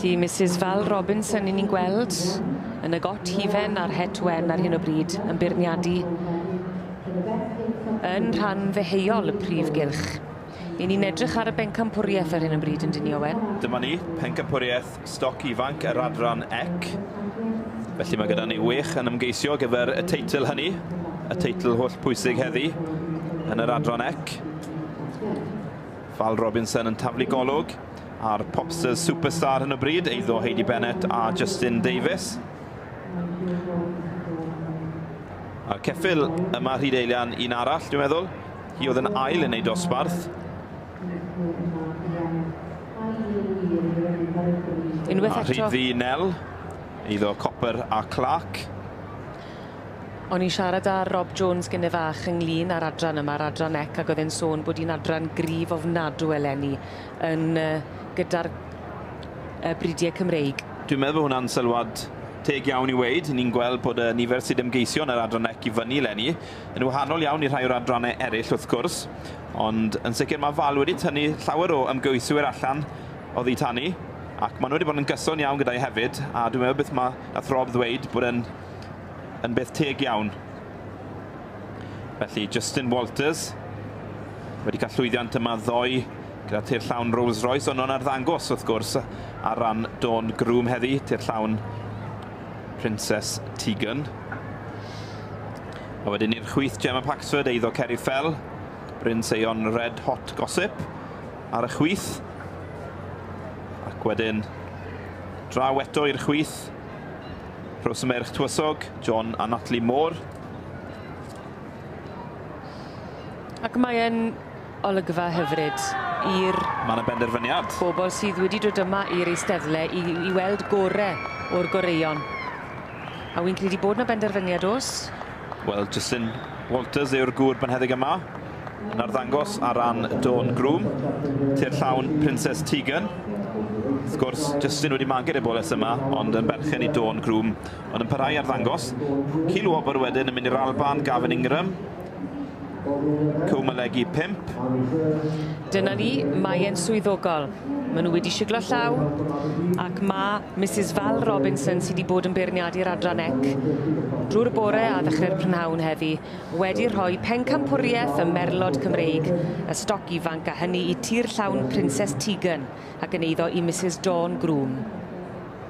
Felly, Mrs Val Robinson i ni'n gweld yn y got hufen a'r het wen ar hyn o bryd yn beirniadu yn rhan ddeheuol y prif gylch. 'Yn ni'n edrych ar y bencampwriaeth ar hyn o bryd yndyn ni, Owen? Dyma ni, pencampwriaeth stoc ifanc yr adran ec. Felly mae gyda ni wech yn ymgeisio gyfer y teitl hynny, y teitl holl pwysig heddi yn yr adran ec. Val Robinson yn taflu golwg a'r Popsters Superstar hyn o bryd, eiddo Heidi Bennett a Justin Davies. A'r ceffil yma Rhyd Eilian un arall, dwi'n meddwl. Hi oedd yn ail yn ei dosbarth. Unwaith eto. A rhyd ddi Nel, eiddo Copper a Clark. O'n i'n siarad â Rob Jones gyne fach ynglyn â'r adran yma, yr adran ec, ac oedd e'n sôn bod hi'n adran grif ofnadw eleni yn uh, gyda'r uh, bridiau Cymreig. Dwi'n meddwl bod hwnna'n sylwad teg iawn i weid. Ni'n gweld bod y nifer sydd ymgeisio yn yr adran ec i fyny eleni, Yn wahanol iawn i rhai o'r adrannau eraill wrth gwrs, ond yn sicr mae Val wedi tynnu llawer o ymgeiswyr allan oddi tani, ac maen nhw wedi bod yn gyson iawn gyda'i hefyd, a dwi'n meddwl beth mae nath Rob ddweud bod e'n yn beth teg iawn. Felly Justin Walters wedi cael llwyddiant yma ddoe gyda tir llawn Rolls Royce, ond o'n arddangos wrth gwrs ar ran Dawn Groom heddi, tir llawn Princess Tegan. A wedyn i'r chwith Gemma Paxford, eiddo Ceri Fell, Bryn Seion Red Hot Gossip ar y chwith. Ac wedyn draw eto i'r chwith Rhos Merch Twysog, John a Natalie Moore. Ac mae'n Olygfa hyfryd i'r... Mae yna benderfyniad. ...bobl sydd wedi dod yma i'r eisteddle i i weld gore o'r goreuon. A wi'n credu bod 'na benderfyniad, o's? Wel, Justin Walters yw'r gŵr bynheddig yma yn arddangos ar ran Dawn Groom. Tir llawn Princes Tegan. Wrth gwrs, Justin wedi magu Reboles yma, ond yn berchen i Dawn Groom, ond yn parhau i arddangos. Keelwobber wedyn yn mynd i'r Alban, Gavin Ingram. Cymylegi pump. Dyna ni, mae e'n swyddogol. Maen nhw wedi siglo llaw, ac mae Misus Val Robinson, sydd wedi bod yn beirniadu'r adran ec drwy'r y bore a ddechrau'r prynhawn heddi, wedi rhoi pencampwriaeth ym merlod Cymreig y stoc ifanc a hynny i tir llawn Princes Tegan ac yn eiddo i Misus Dawn Groom.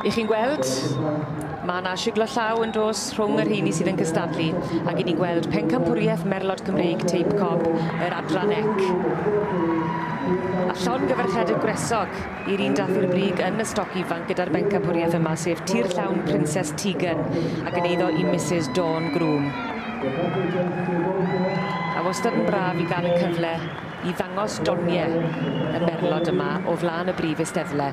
Y'ch chi'n gweld, ma' 'na shiglo llaw yn dos rhwng y rheini sydd yn cystadlu, ag 'yn ni'n gweld pencampwrieth merlod Cymreig Teip Cob yr Adran Ec. A llongyfarchiad y gwresog i'r un dath i'r brig yn y stoc ifanc gyda'r bencampwrieth yma, sef tir llawn Princess Tegan, a gyn eiddo i Misus Dawn Groom. A wastad yn braf i gael y cyfle i ddangos donie y merlod yma o flaen y brif eisteddle.